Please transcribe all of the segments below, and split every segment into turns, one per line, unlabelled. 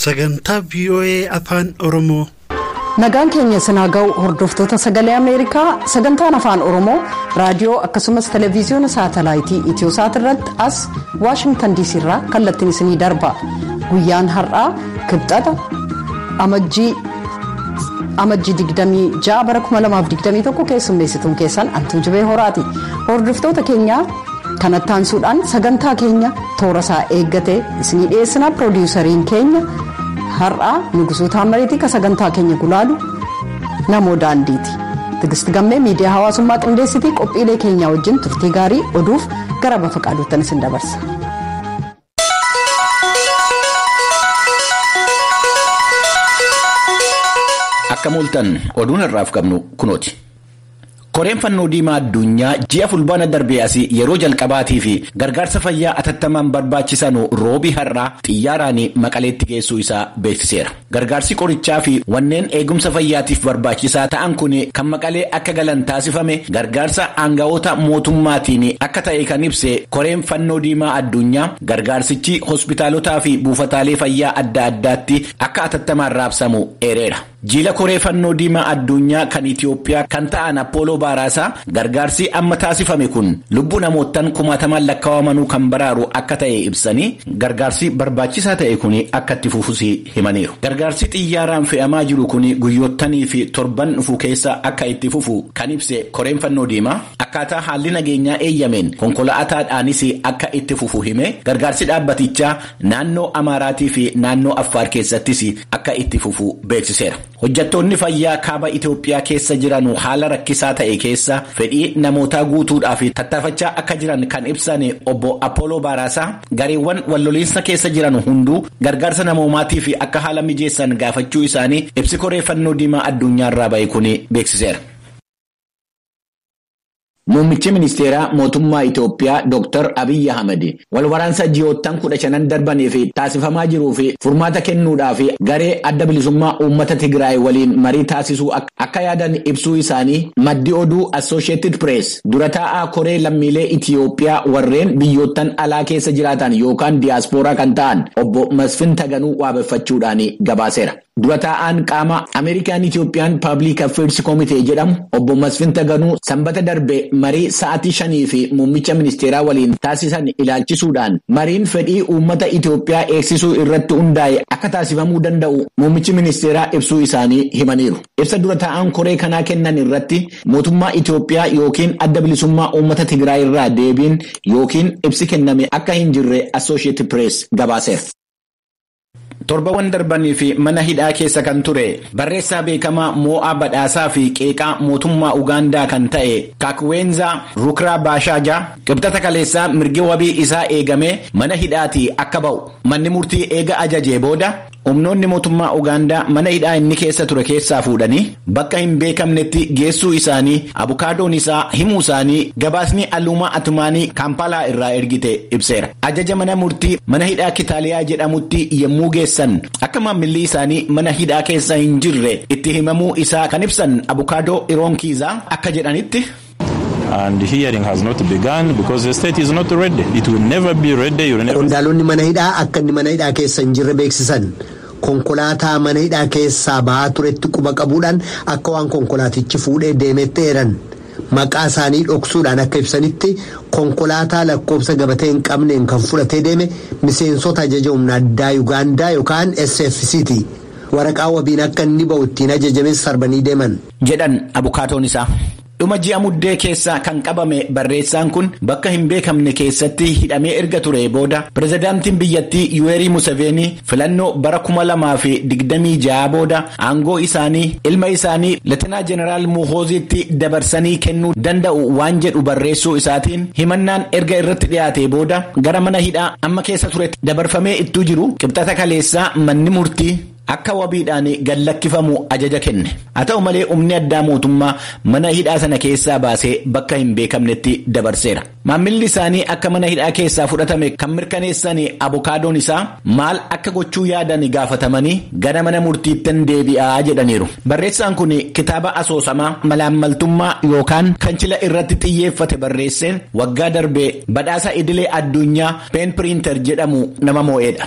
Sagantaa VOA Afaan Oromoo. Nagaan
keenya isin haa ga'u hordoftoota sagalee Ameerikaa sagantaan afaan Oromoo raadiyoo akkasumas televezyiyoona saatalaayitii Itiyoosaat irratti as Waashingtan DC irraa kallattiin isinii darba. Guyyaan har'aa kibxata amajjii Amajjii 26 bara 2021 keessummeessituun keessan Antuu Jibee Horaati. Hordoftoota keenyaa kanatti aansuudhaan sagantaa keenya toora isaa eeggatee isinii dhiyeessina piroodiwusariin keenya har'aa Nugusuu Taammareetii ka sagantaa keenya gulaalu namoo daandiiti. Tigisti gammee miidiyaa hawaasummaa qindeessitii qophiilee keenyaa wajjin turtii gaarii oduuf gara bafa qaaduuttan isin dabarsa.
Akka mooltan oduun har'aaf qabnu kunooti. Koreen fannoo diimaa addunyaa ji'a fulbaana darbee asii yeroo jalqabaatii fi gargaarsa fayyaa atattamaan barbaachisanu roobii har'aa xiyyaaraan maqaleetti geessuu isaa beeksiseera. Gargaarsi qorichaa fi wanneen eegumsa fayyaatiif barbaachisaa ta'an kun kan Maqalee akka galan taasifame gargaarsa aanga'oota mootummaatiin akka ta'e kan ibse koreen Fannoo Diimaa Addunyaa gargaarsichi hospitaalotaa fi buufataalee fayyaa adda addaatti akka atattamaan raabsamu eereera. Jiila koree Fannoo Diimaa Addunyaa kan Itiyoophiyaa kan ta'an Appooloo Baaraasaa Gargaarsi amma taasifame kun lubbuu namoottan kumaatamaan lakkawamanuu kan baraaru akka ta'e ibsanii, gargaarsi barbaachisaa ta'e kun akka itti fufus himaniiru. Gargaarsi xiyyaaraan fe'amaa jiru kun guyyoottanii fi torban dhufu keessa akka itti fufu kan ibse Koreen Fannoo Diimaa, akkaataa haalli nageenyaa eeyyameen konkola'ataadhaanis akka itti fufu himee, gargaarsi dhaabbatichaa naannoo Amaaraatii fi naannoo Affaar keessattis akka itti fufu beeksiseera. Hojjattoonni fayyaa kaaba Itoophiyaa keessa jiranu haala rakkisaa ta'e keessa fedhii namootaa guutuudhaaf tattaafachaa akka jiran kan ibsan obbo Appooloo Baaraasaa gareewwan walloliinsa keessa jiran hunduu gargaarsa namoomaatiif akka haala mijeessan gaafachuu isaanii ibsi koree fannoo diimaa addunyaarraa ba'e kun beeksiseera. Muummichi Ministeeraa Mootummaa Itoophiyaa Dooktar Abiy Ahimad wal waraansa ji'oottan kudha shanan darbaniif taasifamaa jiruuf furmaata kennuudhaaf garee Adda Bilisummaa Uummata Tigraay waliin marii taasisuu akka yaadan ibsuu isaanii maddi oduu Assoosheetid Pirees dura taa'aa koree lammiilee Itoophiyaa warreen biyyoottan alaa keessa jiraatan yookaan diyaaspooraa kan ta'an obbo Masfin Taganuu waabeffachuudhaan gabaaseera. Dura taa'aan qaama American Ethiopian Public Affairs Committee jedhamu obbo Masfin Taganuu Sanbata darbe marii sa'atii shaniif muummicha ministeeraa waliin taasisan ilaalchisuudhaan mariin fedhii uummata Itoophiyaa eegsisuu irratti hundaa'e akka taasifamuu danda'u muummichi ministeeraa ibsuu isaanii himaniiru. Ibsa dura taa'aan koree kanaa kennan irratti mootummaa Itoophiyaa yookiin Adda Bilisummaa Uummata Tigraay irraa deebiin yookiin ibsi kenname akka hin jirre Associated Press gabaaseera. Torbawan darbaniif mana hidhaa keessa kan ture barreessaa beekamaa moo'aa badhaasaa fi qeeqaa mootummaa Ugaandaa kan ta'e Kakweenzaa Rukraa Baashaaja Qibxata kaleessaa mirgi wabii isaa eegamee mana hidhaatii akka ba'u manni murtii eega ajajee booda humnoonni mootummaa Ugaandaa mana hidhaa inni keessa ture keessaa fuudhanii bakka hin beekamnetti geessuu isaanii abukaadoon isaa himuu isaanii gabaasni Aluumaa Atumaanii Kaampaalaa irraa ergite ibseera. Ajaja mana murtii mana hidhaa Kitaaliyaa jedhamutti yommuu geessan akka maammilli isaanii mana hidhaa keessa hin jirre itti himamuu isaa kan ibsan abukaadoo Iroon Kiizaa akka jedhanitti,
Qondaalonni mana hidhaa
akka inni mana hidhaa keessa hin jirre beeksisan. Konkolaataa mana hidhaa keessaa ba'aa turetti quba qabuudhaan akka waan konkolaatichi fuudhee deemeetti eeran. Maqaa isaanii dhoksuudhaan akka ibsanitti konkolaataa lakkoofsa gabatee hin qabneen kan fudhatee deeme miseensota ajaja humna addaa Yugaandaa yookaan SFCti. Waraqaa wabiin akka inni ba'u ittiin ajajames sarbanii deeman. jedhan abukaatoon
isaa. Dhuma ji'a Muddee keessa kan qabame barreessaan kun bakka hin beekamne keessatti hidhamee erga turee booda pirezidaantiin biyyattii Yuweerii Museveenii filannoo bara kuma lamaa fi digdamii ja'a booda aangoo isaanii ilma isaanii Leetenaa Jeneraal Muhooziitti dabarsanii kennuu danda'u waan jedhu barreessuu isaatiin himannaan erga irratti dhiyaatee booda gara mana hidhaa amma keessa turetti dabarfamee ittuu jiru qibxata kaleessaa manni murtii akka wabiidhaan gad lakkifamu ajaja kenne. Haa ta'u malee humni addaa mootummaa mana hidhaa sana keessaa baasee bakka hin beekamnetti dabarseera. Maammilli isaanii akka mana hidhaa keessaa fudhatame kan mirkaneessan abokaadoon isaa maal akka gochuu yaadan gaafatamanii gara mana murtiittan deebi'a jedhaniiru. Barreessaan kun kitaaba asoosamaa malaammaltummaa yookaan kanchila irratti xiyyeeffate barreesseen waggaa darbe badhaasa idilee addunyaa Peen Piriinter jedhamu nama moo'eedha.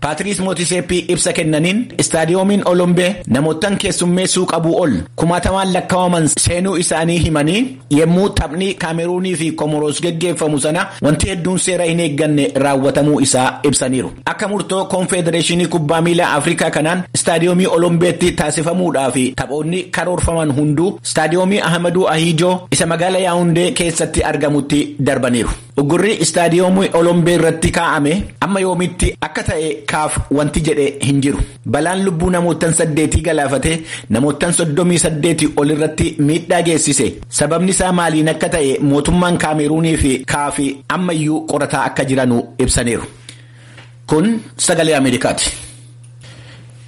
Paatiriis Mootiseeppii ibsa kennaniin Istaadiyoomiin Olombee namoottan keessummeessuu qabuu ol kumaatamaan lakkaa'aman seenuu isaanii himanii yemmuu taphni Kaameruunii fi Komoroos geggeeffamu sana wanti hedduun seera hin eegganne raawwatamuu isaa ibsaniiru. Akka murtoo Konfedereeshinii Kubbaa Miilaa Afrikaa kanaan Istaadiyoomii Olombeetti taasifamuudhaa fi taphoonni karoorfaman hunduu Istaadiyoomii Ahamaduu Ahiijoo isa magaala Yaawundee keessatti argamutti darbaniiru. Uggurri istaadiyoomii Olombee irratti kaa'ame amma yoomiitti akka ta'e kaaf wanti jedhe hin jiru. Balaan lubbuu namoottan saddeetii galaafate namoottan soddomii saddeetii ol irratti miidhaa geessise sababni isaa maaliin akka ta'e mootummaan Kaameeruunii fi kaafi ammayyuu qorataa akka jiranu ibsaniiru. Kun sagalee Ameerikaati.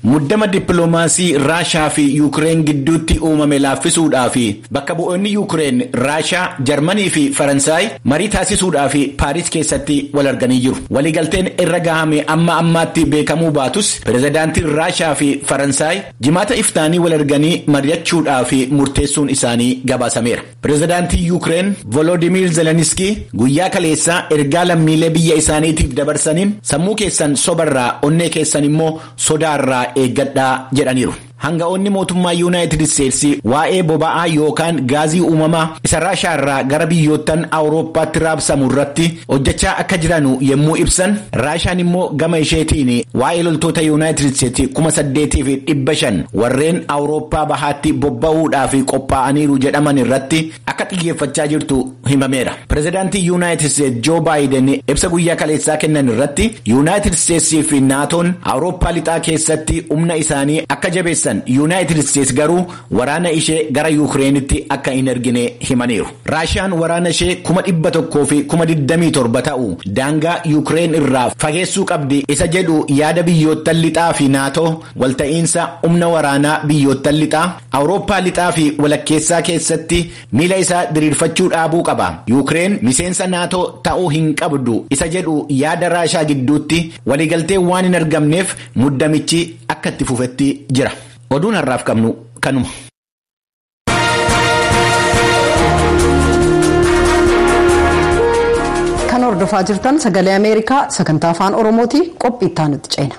Muddama dippiloomaasii Raashaa fi Yuukireen gidduutti uumame laaffisuudhaa fi bakka bu'oonni Yuukireen, Raashaa, Jarmanii fi Faransaay marii taasisuudhaa fi Paariis keessatti wal arganii jiru. Waliigalteen irra gahame amma ammaatti beekamuu baatus pirezidaantiin Raashaa fi Faransaay Jimaata iftaanii wal arganii mari'achuudhaa fi murteessuun isaanii gabaasameera. Pirezidaantiin Yuukireen Volodimiir Zeleniskii guyyaa kaleessaa ergaa lammiilee biyya isaaniitiif dabarsaniin sammuu keessan sobarraa onnee keessan immoo sodaarraa eeggadhaa jedhaniiru. Hanga'oonni mootummaa Yuunaayitid Isteetsi waa'ee boba'aa yookaan gaazii uumamaa isa Raashaarraa gara biyyoottan Awurooppaatti raabsamu irratti hojjechaa akka jiranu yommuu ibsan Raashaan immoo gama isheetiin waa'ee loltoota Yuunaayitid Isteetsi kuma saddeetii fi dhibba shan warreen Awurooppaa bahaatti bobba'uudhaaf qophaa'aniiru jedhaman irratti akka xiyyeeffachaa jirtu himameera. Pireezidaantii Yuunaayitid Isteetsi Joo Baayiden ibsa guyyaa kaleessaa kennan irratti Yuunaayitid Isteetsii fi Naatoon Awurooppaa lixaa keessatti humna isaanii akka jabeessan Yuunaayitid Isteetsi garuu waraana ishee gara Yuukireenitti akka hin ergine himaniiru. Raashiyaan waraana ishee kuma dhibba tokkoo fi kuma digdamii torba ta'u daangaa Yuukireen irraa fageessuu qabdi isa jedhu yaada biyyoottan lixaa fi Naatoo walta'iinsa humna waraanaa biyyoottan lixaa, Awurooppaa lixaa fi walakkeessaa keessatti miila isaa diriirfachuu dhaabuu qaba. Yuukireen miseensa Naatoo ta'uu hin qabdu isa jedhu yaada Raashaa gidduutti waliigalteen waan hin argamneef muddamichi akka itti fufetti jira. Oduun har'aaf qabnu kanuma.
Kan hordofaa jirtan sagalee Ameerikaa sagantaa afaan Oromooti qophii itti aanutti ceena.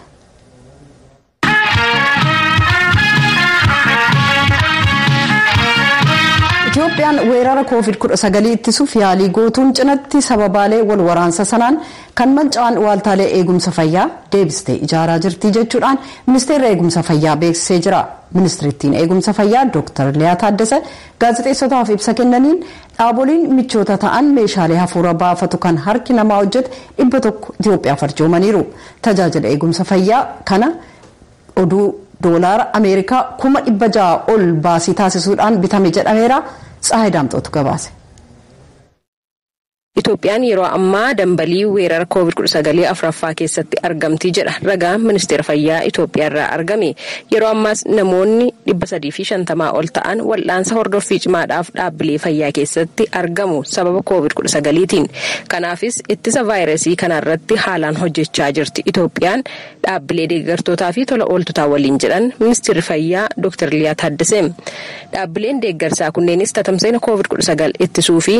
Itoophiyaan weerara COVID-19 ittisuuf yaalii gootuun cinatti sababaalee wal waraansa sanaan Kan manca'an waaltaalee eegumsa fayyaa deebistee ijaaraa jirti jechuudhaan Ministeerri Eegumsa Fayyaa beeksisee jira. Ministirittiin Eegumsa Fayyaa Dooktar Liyaa Taaddasa gaazexeessotaaf ibsa kennaniin, dhaaboliin michoota ta'an meeshaalee hafuura baafatu kan harki namaa hojjete 100 Itiyoophiyaaf arjoomaniiru. Tajaajila eegumsa fayyaa kana oduu doolaara Ameerikaa kuma 600 ol baasii taasisuudhaan bitame jedhameera. Tsahaay Daamxootu gabaase.
Itoophiyaan yeroo ammaa dambalii weerara Covid kudha sagal afraffaa keessatti argamti jedha ragaan Ministeera Fayyaa Itoophiyaarraa argame. Yeroo ammaas namoonni dhibba sadii fi shantama ol ta'an wal'aansa hordoffii cimaadhaaf dhaabbilee fayyaa keessatti argamu sababa Covid kudha sagaliitiin. Kanaafis ittisa vaayirasii kanaarratti haalaan hojjechaa jirti Itoophiyaan dhaabbilee deeggartootaafi tola ooltotaa waliin jedhan Ministirri Fayyaa Doktar Liyaa Taaddesee. Dhaabbileen deeggarsaa kunneenis tatamsa'ina Covid kudha sagal ittisuufi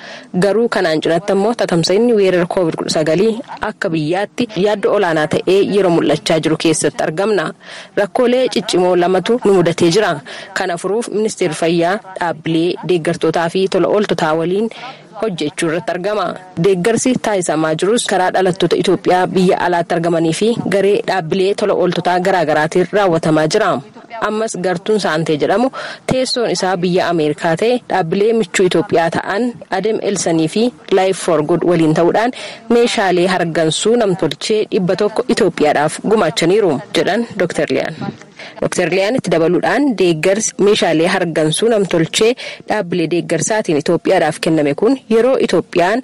Garuu kanaan cinatti ammoo tatamsa'inni weerara Covid kudha sagal akka biyyaatti yaaddoo olaanaa ta'ee yeroo mul'achaa jiru keessatti argamna. Rakkoolee ciccimoo lamatu nu mudatee jira. Kana furuuf Ministeerri Fayyaa dhaabbilee deeggartootaafi tola ooltotaa waliin hojjechuu irratti argama. Deeggarsi taasisamaa jirus karaa dhalattoota Itoophiyaa biyya alaatti argamaniifi garee dhaabbilee tola ooltotaa garaagaraatiin raawwatamaa jira. Ammas gartuun Saantee jedhamu teessoon isaa biyya Ameerikaa ta'e dhaabbilee michuu Itoophiyaa ta'an Adem Elsanii fi Life for Good waliin ta'uudhaan meeshaalee hargansuu namtolchee dhibba tokko Itoophiyaadhaaf gumaachaniiru jedhan Dr. Liyaan. Dr. Liyaan itti dabaluudhaan deeggarsi meeshaalee hargansuu namtolchee dhaabbilee deeggarsaatiin Itoophiyaadhaaf kenname kun yeroo Itoophiyaan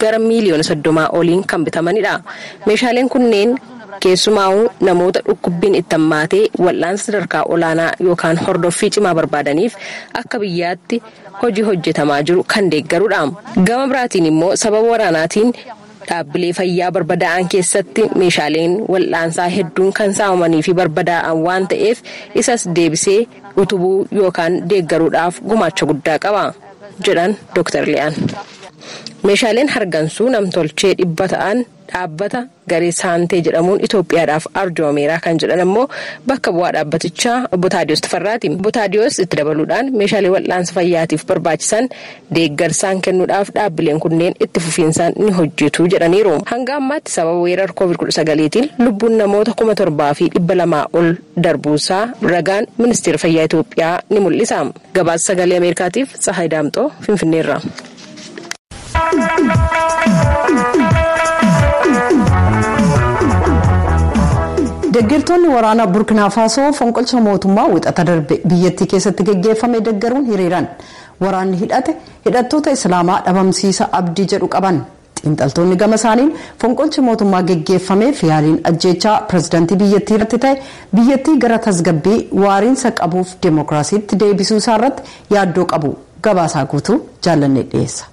gara miiliyoona soddomaa oliin kan bitamanidha. Meeshaaleen kunneen keessumaa'uu namoota dhukkubbiin itti hammaatee wal'aansa sadarkaa olaanaa yookaan hordoffii cimaa barbaadaniif akka biyyaatti hojii hojjetamaa jiru kan deeggarudha. Gama biraatiin immoo sababa waraanaatiin dhaabbilee fayyaa barbadaa'an keessatti meeshaaleen wal'aansaa hedduun kan saamamaniifi barbadaa'an waan ta'eef isas deebisee utubuu yookaan deeggaruudhaaf gumaacha guddaa qaba. jedhan Dr. Liyaan. Meeshaaleen hargansuu namtolchee dhibba ta'an dhaabbata garee Saantee jedhamuun Itoophiyaadhaaf arjoomeera kan jedhan ammoo bakka bu'aa dhaabbatichaa obbo Taadiyoos Tafarraati. Obbo Taadiyoos itti dabaluudhaan meeshaalee wal'aansa fayyaatiif barbaachisan deeggarsaan kennuudhaaf dhaabbileen kunneen itti fufiinsaan ni hojjetu jedhaniiru. Hanga ammaatti sababa weerar Covid 19tiin lubbuun namoota kuma torbaa fi dhibba lamaa ol darbuusaa ragaan Ministeera Fayyaa Itoophiyaa ni mul'isa. Gabaasa Sagalee Ameerikaatiif Tsahaay Daamxoo Finfinneerraa.
Deggertoonni waraanaa Burkinaa Faasoo fonqolcha mootummaa wixata darbe biyyattii keessatti geggeeffame deggeruun hiriiran. Waraanni hidhate hidhattoota Islaamaa dhabamsiisa abdii jedhu qaban. Xiinxaltoonni gama isaaniin fonqolchi mootummaa geggeeffameef yaaliin ajjeechaa pirezidantii biyyattii irratti ta'e biyyattii gara tasgabbii waariinsa qabuuf demookiraasiitti deebisuu isaa irratti yaaddoo qabu. Gabaasaa guutuu Jaallannee dhiyeessa.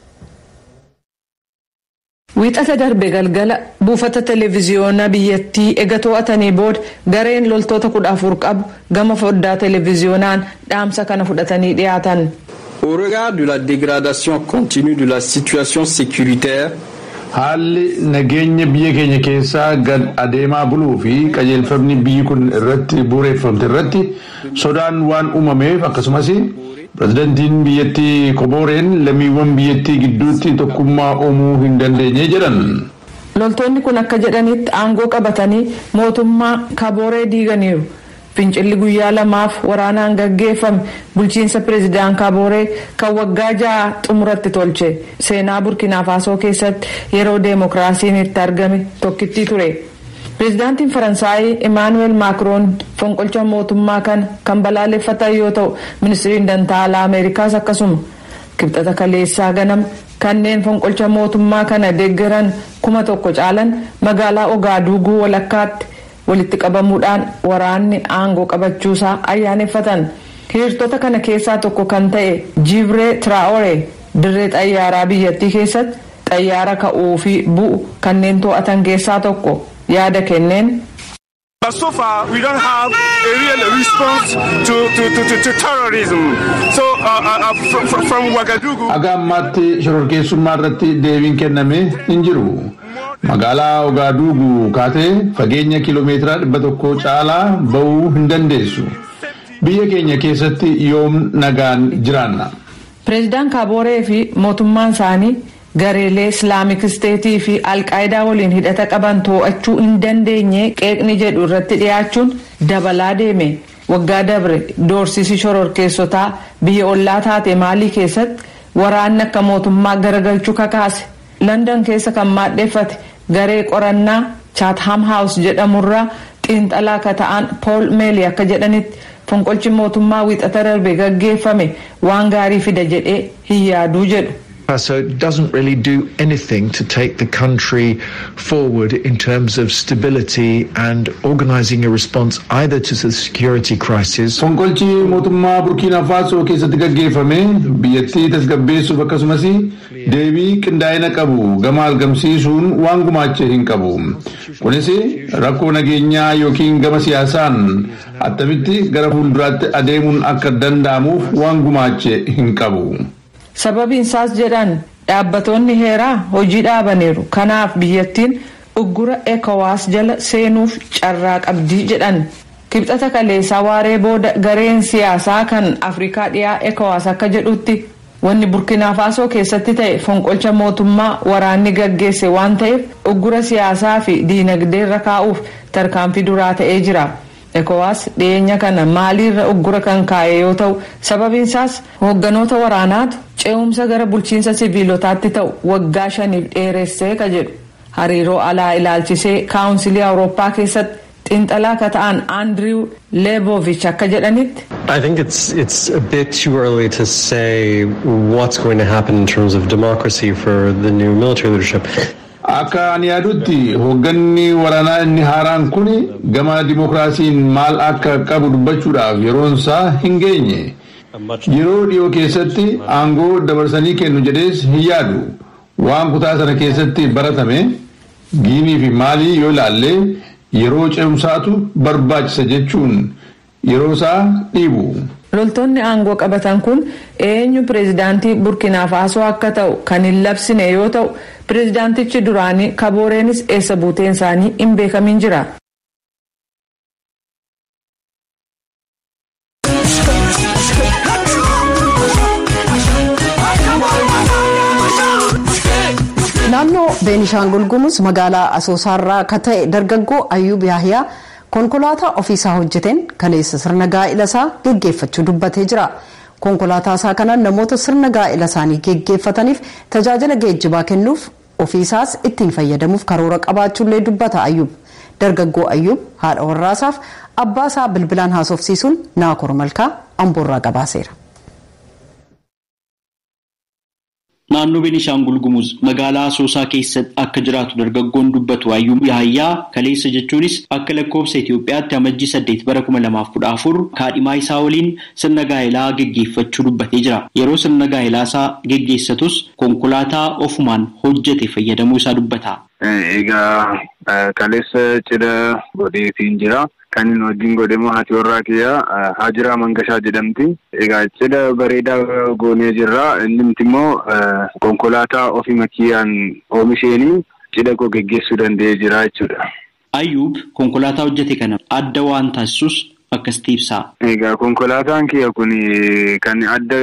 Wiixata darbe galgala buufata televiziyoona biyyattii ega to'atanii booda gareen loltoota kudha afur qabu gama foddaa televiziyoonaan dhaamsa kana fudhatanii dhiyaatan. Au regard
de la dégradation continue de la situation sécuritaire, Haalli
nageenya biyya keenya keessaa gad adeemaa buluu fi qajeelfamni biyyi kun irratti bu'ureeffamte irratti sodaan waan uumameef akkasumas Pirezidantiin biyyattii Kobooreen lammiiwwan biyyattii gidduutti tokkummaa uumuu hin dandeenye jedhan. Loltoonni
kun akka jedhaniitti aangoo qabatanii mootummaa Kabooree diiganiiru. Fincilli guyyaa lamaaf waraanaan gaggeeffame bulchiinsa Pirezidaan Kabooree kan waggaa ja'a xumura itti tolche. Seenaa Burkinafaasoo keessatti yeroo deemokiraasiin itti argame tokkittii ture. Pirezidaantiin Faransaayi Imaanu'eel Maakroon fonqolcha mootummaa kana kan balaaleffatan yoo ta'u, Ministriin Dantaa Alaa Ameerikaas akkasuma. Kibxata kaleessaa ganama Kanneen fonqolcha mootummaa kana deggeran kuma tokko caalan magaalaa Ogaaduuguu walakkaatti walitti qabamuudhaan waraanni aangoo qabachuusaa ayyaaneffatan. Hiirtota kana keessaa tokko kan ta'e Jiibree Tiraa'ore dirree xayyaaraa biyyattii keessatti xayyaara ka'uufi bu'u kanneen to'atan keessaa tokko yaada kenneen, But so
far, we don't have a real response to, to, to, to, to terrorism. So, uh, uh, uh, from, from, from Ouagadougou. Haga ammaatti
shororkeessummaa irratti deebiin kenname hin jiru. Magaalaa Ogaaduugu kaatee fageenya kiiloomeetira dhibba tokko caalaa ba'uu hin dandeessu. Biyya keenya keessatti yoom nagaan jiraanna. Pireezidaan
Kaabooree fi mootummaan isaanii Gareelee Islaamik Isteetii fi Al-Qaayidaa waliin hidhata qaban to'achuu hin dandeenye qeeqni jedhu irratti dhiyaachuun dabalaa deeme. Waggaa dabre doorsisi shororkeessotaa biyya ollaa taate Maalii keessatti waraanni akka mootummaa garagalchu kakaase. London keessa kan maadheffate garee qorannaa Chatham House jedhamu irraa xiinxalaa ka ta'an Paul Meli akka jedhanitti fonqolchi mootummaa Wiixata darbe gaggeeffame waan gaarii fida jedhee hin yaadu jedhu. So it doesn't
really do anything to take the country forward in terms of stability and organising a response either to the security crisis Fonqolchi mootummaa
Burkiinaa Faasoo keessatti gaggeeffame biyyattii tasgabbeessuuf akkasumas deebii qindaa'ina qabu gama argamsiisuun waan gumaache hin qabu. Kunis rakkoo nageenyaa yookiin gama siyaasaan attamitti gara fuulduraatti adeemuun akka danda'amuuf waan gumaache hin qabu. Sababiin
isaas jedhan dhaabbatoonni heeraa hojii dhaabaniiru kanaaf biyyattiin uggura Ecowas jala seenuuf carraa qabdi jedhan. Kibxata kaleessaa waaree booda gareen siyaasaa kan Afrikaa dhiyaa Ecowas akka jedhutti wanni Burkinafaasoo keessatti ta'e fonqolcha mootummaa waraanni gaggeesse waan ta'eef uggura siyaasaa fi diinagdee irra kaa'uuf tarkaanfii duraa ta'ee jira. Ecowas dhiyeenya kana Maalii irra uggura kan kaa'e yoo ta'u, sababiin isaas hoogganoota waraanaatu ce'umsa gara bulchiinsa siviilotaatti ta'u waggaa shaniif dheeresse ka jedhu hariiroo alaa ilaalchisee Kaawunsilii Awurooppaa keessatti xiinxalaa ka ta'an Andiriiw Leeboovich akka jedhanitti, I think it's
it's a bit too early to say what's going to happen in terms of democracy for the new military leadership. Akka ani
yaadutti hogganni waranaa inni haaraan kuni gama dimokraasiin maal akka qabu dubbachuudhaaf yeroon isaa hin geenye. Yeroo dhiyoo keessatti aangoo dabarsanii kennu jedhees hin yaadu. Waan kutaa sana keessatti baratame Giinii fi Maalii yoo ilaalle yeroo ce'umsaatu barbaachisa jechuun yeroo isaa dhiibu. Loltoonni
aangoo qabatan kun eenyu pireezidaantii Burkiinaa Faasoo akka ta'u kan hin labsine yoo ta'u, pireezidaantichi duraanii Kabooreenis eessa buuteen isaanii hin beekamiin jira.
Naannoo Beenishaangul Gumuz magaalaa Asoosaarraa akka ta'e dargaggoo Ayyuub Yaahiyaa Konkolaataa ofiisaa hojjeteen kaleessa sirna gaa'ilasaa geggeeffachuu dubbatee jira. Konkolaataasaa kanaan namoota sirna gaa'ilasaanii geggeeffataniif tajaajila geejjibaa kennuuf, ofiisaas ittiin fayyadamuuf karoora qabaachuullee dubbata Ayyub. Dargaggoo Ayyub haadha warraasaaf abbaasaa bilbilaan haasofsiisuun Naakoor Malkaa Amboorraa gabaaseera.
Naannoo Benishaangul Gumuz magaalaa Asoosaa keessatti akka jiraatu dargaggoon dubbatu Ayyub Yahayyaa kaleessa jechuunis akka lakkoofsa Itoophiyaatti Amajjii saddeet bara kuma lamaa fi kudha afur kaadhimaa isaa waliin sirna gaa'elaa geggeeffachuu dubbatee jira. Yeroo sirna gaa'elaa isaa geggeessatus konkolaataa ofumaan hojjete fayyadamuu isaa dubbata. Egaa
kaleessa cidha godheefiin jira. Kanin wajjin godhe immoo haati warraa kiyya Haajiraa Mangashaa jedhamti. Egaa cidha bareedaa goonee jirra. Innumti immoo konkolaataa ofima kiyyaan oomisheenii cidha koo geggeessuu danda'ee jira jechuudha. Ayyuub
konkolaataa hojjete kana adda waan taasisus akkasitti ibsa. Egaa konkolaataan
kiyya kun kan adda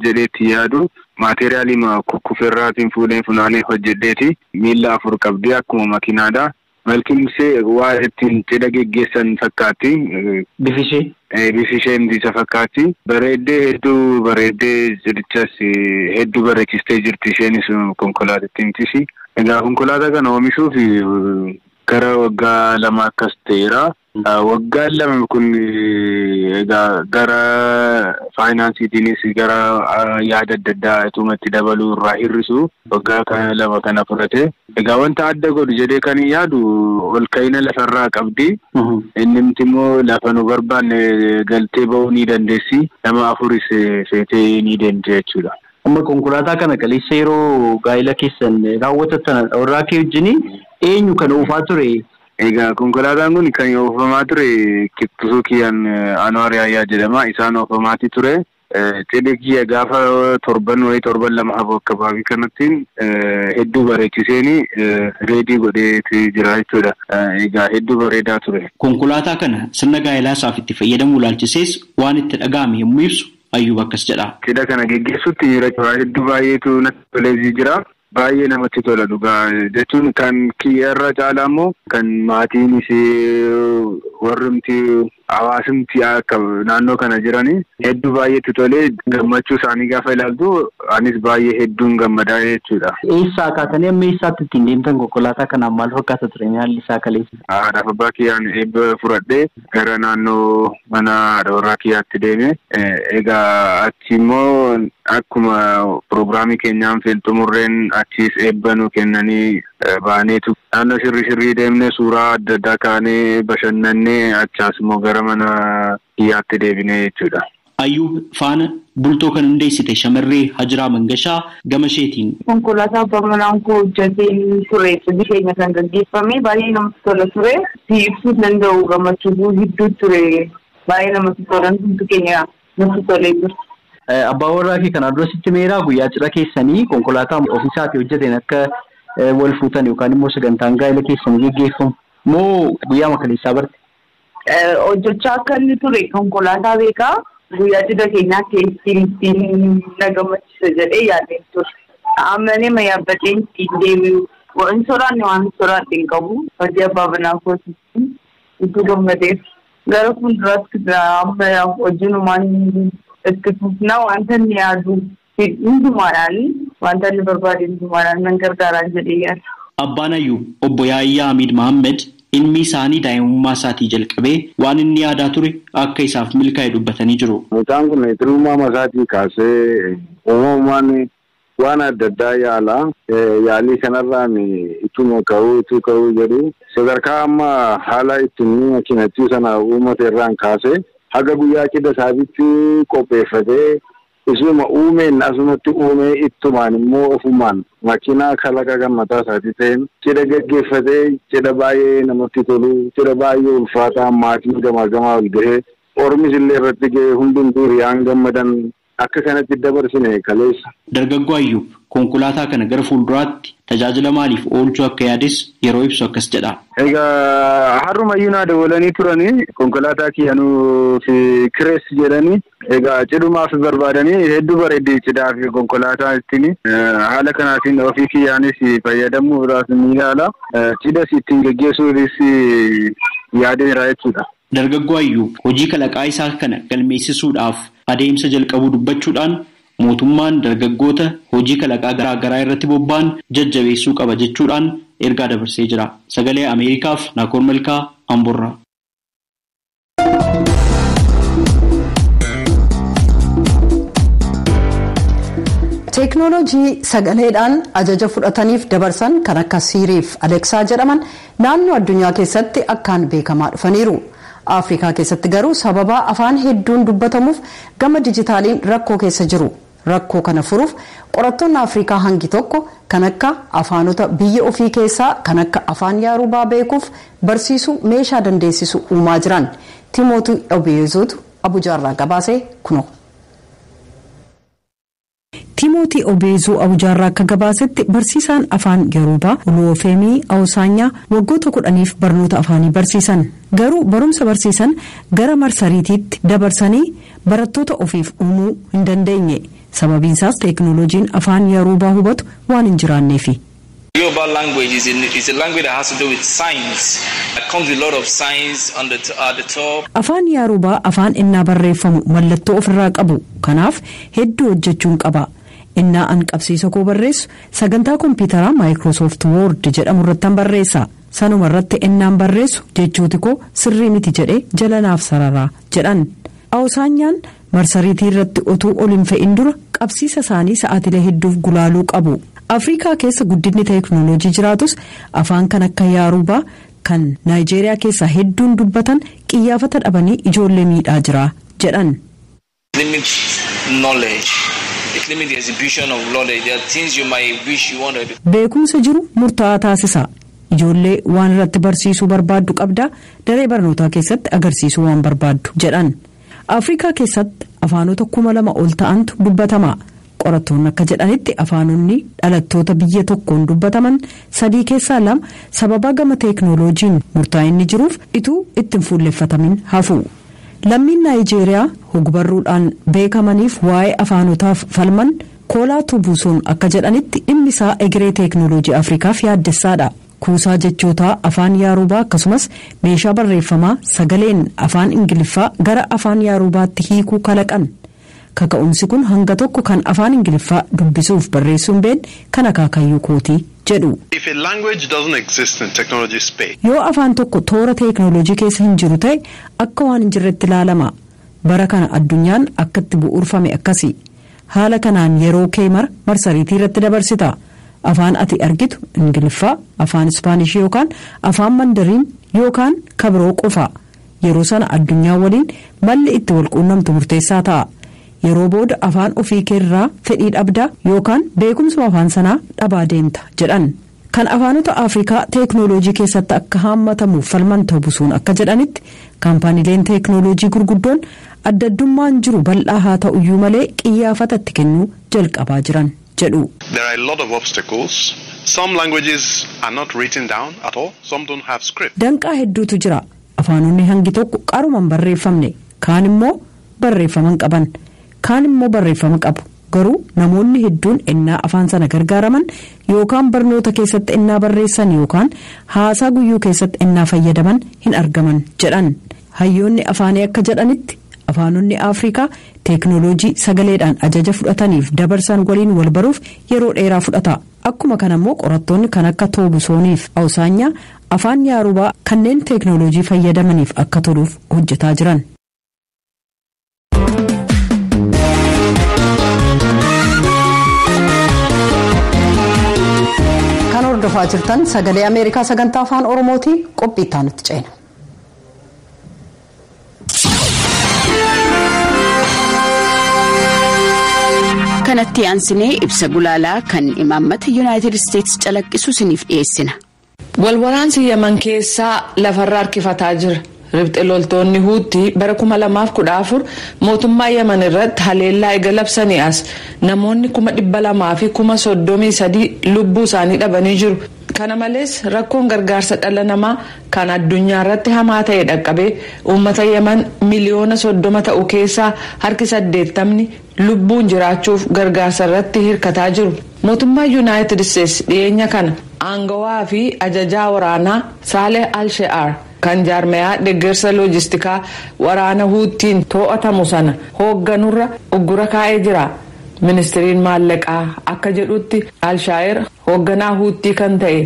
jedhee itti yaadu maateeriyaalii kukkuferraatiin fuudhee funaanee hojjedheeti. Miilla afur qabdi akkuma makiinaadha. Malkimse waan ittiin cidha geggeessan fakkaatti. Bifi ishee? Bifi ishee himti isa fakkaatti. Bareeddee hedduu bareeddee cidhichas hedduu bareechistee jirti isheenis konkolaatittiimtisi. Egaa konkolaataa kana oomishuuf gara waggaa lamaa akkas ta'eera. Waggaan lama kun egaa gara faayinaansiitiinis gara yaada adda addaa ituma itti dabaluu irraa hir'isu waggaa kana lama kana fudhate. Egaa wanta adda godhu jedhee kan hin yaadu ol ka'ina lafarraa qabdi. Innimti immoo lafa nu barbaanne galtee ba'uu ni dandeessi. Nama afuris feetee ni deemti jechuudha. Amma konkolaataa
kana kaleessa yeroo gaa'ila keessan raawwatattan warraa kee wajjin eenyu kan oofaa ture? Egaa konkolaataan
kun kan oofamaa ture Kiptusukiyan Anwar Yahya jedhama. Isaan oofamaatii ture. Xidiq ji'a gaafa torban wayii torban lama hafu akkabaabii kanattiin hedduu bareechiseeni reedii godheeti jira jechuudha. Egaa hedduu bareedaa ture. Konkolaataa kana
sirna gaa'elaa isaaf itti fayyadamuu ilaalchisees waan itti dhaga'ame yommuu ibsu Ayyuub akkas jedha. Cidha kana geggeessuutti
miira cora hedduu baay'eetu natti toleeti jira. Baay'ee namatti tola dhugaa jechuun kan kiyya irra caalaa immoo kan maatiinis warrumti hawaasumti akka naannoo kana jiranii hedduu baay'ee itti tolee gammachuu isaanii gaafa ilaaltu anis baay'ee hedduun gammadaa jechuudha. Eessaa kaatanii amma
eessaatti ittiin deemtan konkolaataa kanaan maal fakkaata ture haalli isaa kaleessa? Haadhaaf abbaa kiyyaan
eebba fudhadhee Gara naannoo mana haadha warraa kiyyaatti deeme. Egaa achi immoo akkuma pirogiraamii keenyaan fiil xumurreen achiis eebba nu kennanii baaneetu naannoo shirrii shirrii deemne suuraa adda addaa kaanee bashannanne achaas immoo gara mana kiyyaatti deebine jechuudha. Ayuub faana
bultoo kan hundeessite shamarree Hajiraa Mangashaa gamasheetiin. Konkolaataa abbaa manaan
koo hojjateen ture hojii keenya kan gaggeeffame. Baay'ee namatti tola ture. Siif ibsuu hin danda'u gammachuu koo hedduu ture. Baay'ee namatti tola hundumti keenya natti tolee ture. Abbaan
warraa kee kanaan dura sitti himeeraa guyyaa cidha keessanii konkolaataa ofii isaatii hojjateen akka wal fuutan yookaan immoo sagantaan gaa'ila keessanii geggeeffamu moo guyyaama kaleessaa barte? hojjechaa
akka inni ture konkolaataa beekaa guyyaa cidha keenyaatti ittiin ittiin na gammachiisa jedhee yaadeen ture. Ammalee ma yaabbadhee ittiin deebi'u waan soraanne waan soraadhe hin qabu hojii abbaa manaa kootiitiin utuu gammadeef gara fuulduraatti amma hojiinumaan itti fufna wanta inni yaadu Fid hundumaadhaan, wanta inni barbaade hundumaadhaan nan gargaaraan jedhee yaada. Abbaan Ayuub,
Obbo Yaayyaa Amiid Mahammad, ilmi isaanii daa'imummaa isaatii jalqabee waan inni yaadaa ture akka isaaf milkaa'e dubbatanii jiru. Mucaan kun xinummaama
isaatii kaasee uumamumaan waan adda addaa yaala. Yaalii kanarraan ituma ka'uu utuu ka'uu jedhu sadarkaa amma haala itti inni makiinattii sana uumate irraan kaasee haga guyyaa cidha isaatitti qopheeffatee, Isuma uumeen asumatti uumee ittumaan immoo ofumaan makinaa kalaqa kan mataa isaatii ta'een cidha gaggeeffatee cidha baay'ee namatti tolu cidha baay'ee ulfaataa maatiin gamaa gamaa ol gahee ormis illee irratti gahee hundumtuu hiriyaan gammadan akka kanatti dabarsine kaleessa. Dargaggoo Ayyuub,
Konkolaataa kana gara fuulduraatti tajaajila maaliif oolchuu akka yaades yeroo ibsu akkas jedha. Egaa
har'umayyuu naa dawwalanii turanii konkolaataa kiyya nuuf kireessi jedhanii. Egaa cidhumaaf barbaadanii hedduu bareeddi cidhaaf konkolaataan ittiin. Haala kanaatiin ofii kiyyaanis fayyadamuudhaaf ni yaala. Cidhas ittiin geggeessuufis yaadeera jechuudha. Dargaggoo Ayyuub
hojii kalaqaa isaa kana galmeessisuudhaaf adeemsa jalqabuu dubbachuudhaan, Mootummaan dargaggoota hojii kalaqaa garaa garaa irratti bobba'an jajjabeessuu qaba jechuudhaan ergaa dabarsee jira. Sagalee Ameerikaaf Naakoor Malkaa Amborraa.
Teeknooloojii sagaleedhaan ajaja fudhataniif dabarsan kan akka siiriif aleksaa jedhaman naannoo addunyaa keessatti akkaan beekamaa dhufaniiru. Afrikaa keessatti garuu sababa afaan hedduun dubbatamuuf Gama dijitaaliin rakkoo keessa jiru. Rakkoo kana furuuf qorattoonni Afrikaa hangi tokko kan akka afaanota biyya ofii keessaa kan akka afaan Yaarubaa beekuuf barsiisuu meeshaa dandeessisu uumaa jiran. Timootii Obiyeezootu Abujaarraa gabaase kunoo. Tiimootii Obeezuu Awujaarraa akka gabaasetti, barsiisaan afaan Yoruubaa, Oluwofeemii Awosaanyaa, waggoota kudhaniif barnoota afaanii barsiisan. Garuu barumsa barsiisan gara marsariitiitti dabarsanii barattoota ofiif uumuu hin dandeenye. Sababiinsaas teeknooloojiin afaan Yoruubaa hubatu waan hin jiraanneefi. Yoruba
language is a is a language that has to do with signs that comes with lot of signs on the at the top. Afaan Yaarubaa
afaan ennaa barreeffamu mallattoo of irraa qabu kanaaf hedduu hojjechuun qaba. Ennaa an qabsiisa koo barreessu sagantaa kompiitaraa Microsoft Word jedhamu irrattan barreessa. Sanuma irratti ennaan barreessu jechooti koo sirrii miti jedhee jala naaf sarara, jedhan. Awosaanyaan Marsariitii irratti otuu ol hin fe'in dura qabsiisa isaanii sa'aatilee hedduuf gulaaluu qabu. Afriikaa keessa guddinni teeknooloojii jiraatus afaan kan akka Yaaruubaa kan Naayijeeriyaa keessaa hedduun dubbatan qiyyaafata dhabanii ijoollee miidhaa jira jedhan. Beekumsa jiru murtaa'aa taasisa. Ijoollee waan irratti barsiisuu barbaaddu qabdaa daree barnootaa keessatti agarsiisuu waan barbaaddu, jedhan. Afrikaa keessatti afaanota kuma lama ol ta'antu dubbatama. Qorattoonni akka jedhanitti afaanonni dhalattoota biyya tokkoon dubbataman sadii keessaa lama sababaa gama teeknooloojiin murtaa'inni jiruuf ituu itti hin fuulleffatamin hafu. Lammiin Naayijeeriyaa hogbarruudhaan beekamaniif waa'ee afaanotaaf falman Koolaa Tubuusoon akka jedhanitti dhimmi isaa egeree teeknooloojii Afrikaaf yaaddessaadha. Kuusaa jechootaa afaan Yaaruubaa akkasumas meeshaa barreeffamaa sagaleen afaan Ingiliffaa gara afaan Yaaruubaatti hiikuu kalaqan. Kaka'umsi kun hanga tokko kan afaan Ingiliffaa dubbisuuf barreessuu hin beekne kan akaakayyuu kooti, jedhu. If a language doesn't exist in technology space. Yoo afaan tokko toora teeknooloojii keessa hin jiru ta'e akka waan hin jirretti ilaalama. Bara kana addunyaan akka itti bu'uurfame akkasi. Haala kanaan yeroo kee mara marsariitii irratti dabarsita. Afaan ati argitu Ingiliffaa, Afaan Ispaanishii yookaan Afaan Mandariin yookaan ka biroo qofa. Yeroo sana addunyaa waliin malli itti wal quunnamtu murteessaa ta'a. Yeroo booda afaan ofii kee irraa fedhii dhabda yookaan beekumsuma afaan sanaa dhabaa deemta, jedhan. Kan afaanota Afrikaa teeknooloojii keessatti akka haammatamuuf falman Tobusuun akka jedhanitti, kaampaanileen teeknooloojii gurguddoon addaddummaan jiru bal'aa haa ta'uyyuu malee qiyyaafata
itti
kennuu jalqabaa
jiran
jedhu. There are a lot
of
obstacles,
some languages are not written down at all, some don't have script. Danqaa hedduutu jira.
Afaanonni hangi tokko qaruma hin barreeffamne, kaan immoo barreeffama hin qaban. Kaan immoo barreeffama qabu. Garuu namoonni hedduun ennaa afaan sana gargaaraman yookaan barnoota keessatti ennaa barreessan yookaan haasaa guyyuu keessatti ennaa fayyadaman hin argaman, jedhan. Hayyoonni afaanii akka jedhanitti, afaanonni Afrikaa teeknooloojii sagaleedhaan ajaja fudhataniif dabarsan waliin wal baruuf yeroo dheeraa fudhata. Akkuma kana immoo qorattoonni kan akka Toobusooniif Awusaanyaa afaan Yaarubaa kanneen teeknooloojii fayyadamaniif akka toluuf hojjetaa jiran. kan hordofaa jirtan sagalee ameerikaa sagantaa afaan oromooti qophii itti aanutti ceena.
kanatti aansinee ibsa gulaalaa kan imaammata yuunaayitid isteetsi calaqqisu isiniif dhiyeessina Wal waraansi
Yaman keessaa lafarra harkifataa jira. Ribxe loltoonni Huutti bara 2014 mootummaa Yaman irratti haleellaa ega labsanii as namoonni 200,000 fi 33,000 lubbuu isaanii dhabanii jiru. Kana malees rakkoon gargaarsa dhala namaa kan addunyaa irratti hamaa ta'e dhaqqabee uummata Yaman miliyoona 30 ta'u keessaa harki 80 ni. lubbuun jiraachuuf gargaarsa irratti hirkataa jiru. Mootummaan Yunaayitid Isteets dhiyeenya kana aangawaa fi ajajaa waraanaa Saaleh al-She'aar kan jaarmayaa deggersa loojistikaa waraana Huuttiin too'atamu sana hoogganurra uggura kaa'ee jira. Ministiriin maallaqaa akka jedhutti al-Shaa'ir hoogganaa Huuttii kan ta'e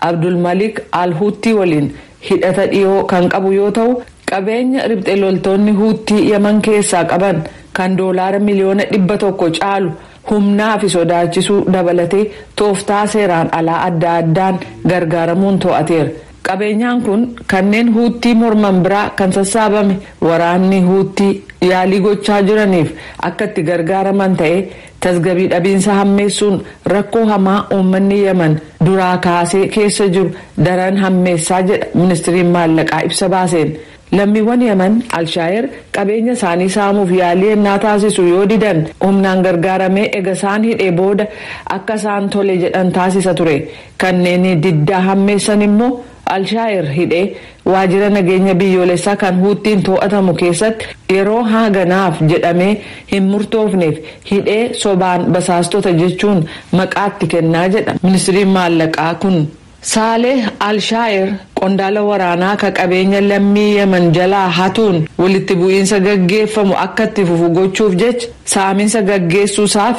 Abdul Malik al-Huuttii waliin hidhata dhiyoo kan qabu yoo ta'u Qabeenya ribxe loltoonni Huuttii Yaman keessaa qaban kan doolaara miliyoona dhibba tokko caalu humnaa fi sodaachisuu dabalatee tooftaa seeraan alaa adda addaan gargaaramuun to'ateera. Qabeenyaan kun kanneen Huuttii morman biraa kan sassaabame waraanni Huuttii yaalii gochaa jiraniif akka itti gargaaraman ta'ee Tasgabii dhabiinsa hammeessuun rakkoo hamaa uummanni Yaman duraa kaasee keessa jiru daran hammeessaa jedha ministriin maallaqaa ibsa baaseen. Lammiiwwan Yaman Alshaayer qabeenya isaanii saamuuf yaalii ennaa taasisu yoo didan humnaan gargaaramee ega isaan hidhee booda akka isaan tole jedhan taasisa ture. Kanneen diddaa hammeessan immoo Al-Shayer hidhee waajjira nageenya biyyoolessaa kan Huuttiin too'atamu keessatti yeroo haaganaaf jedhamee hin murtoofneef hidhee sobaan basaastota jechuun maqaa itti kennaa jedha ministriin maallaqaa kun. Saaleh Al-Shayer qondaala waraanaa ka qabeenya lammii Yemen jalaa hatuun walitti bu'iinsa gaggeeffamu akka itti fufu gochuuf jecha saaminsa gaggeessuu isaaf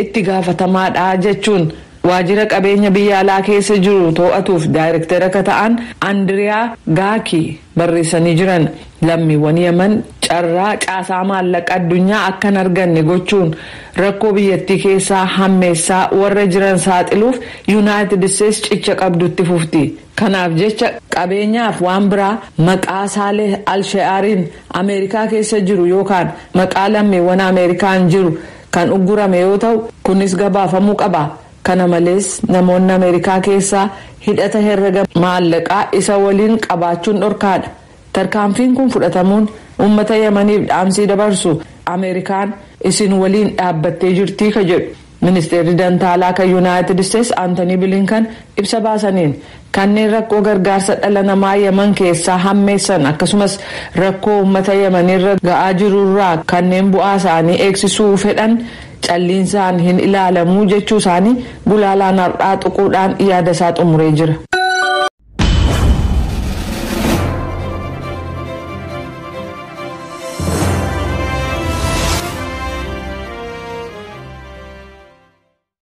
itti gaafatamaadha jechuun Waajjira qabeenya biyya alaa keessa jiru too'atuuf daayrektera ka ta'an Andiriyaa Gaakii barreessanii jiran, lammiiwwan Yaman carraa caasaa maallaqa addunyaa akka hin arganne gochuun rakkoo biyyattii keessaa hammeessaa warra jiran saaxiluuf Yunaayitid Isteets cicha qabdu itti fufti. Kanaaf jecha qabeenyaaf waan biraa maqaa Saaleh Al-She'aariin Ameerikaa keessa jiru yookaan maqaa lammiiwwan Ameerikaan jiru kan uggurame yoo ta'u, kunis gabaafamuu qaba. Kana malees, namoonni Ameerikaa keessaa hidhata herrega maallaqaa isa waliin qabaachuun dhorkaadha. Tarkaanfiin kun fudhatamuun uummata Yamaniif dhaamsii dabarsu Ameerikaan isin waliin dhaabbattee jirti ka jedhu Ministeerri Dantaalaa kan Yunaayitid Isteets Antanii Bilinkan ibsa baasaniin, Kanneen rakkoo gargaarsa dhala namaa Yaman keessaa hammeessan akkasumas rakkoo uummata Yamaniirra ga'aa jirurraa kanneen bu'aa isaanii eegsisuu fedhan calliinsaan hin ilaalamu jechuu isaanii gulaalaan har'aa tuquudhaan yaada isaa xumuree jira.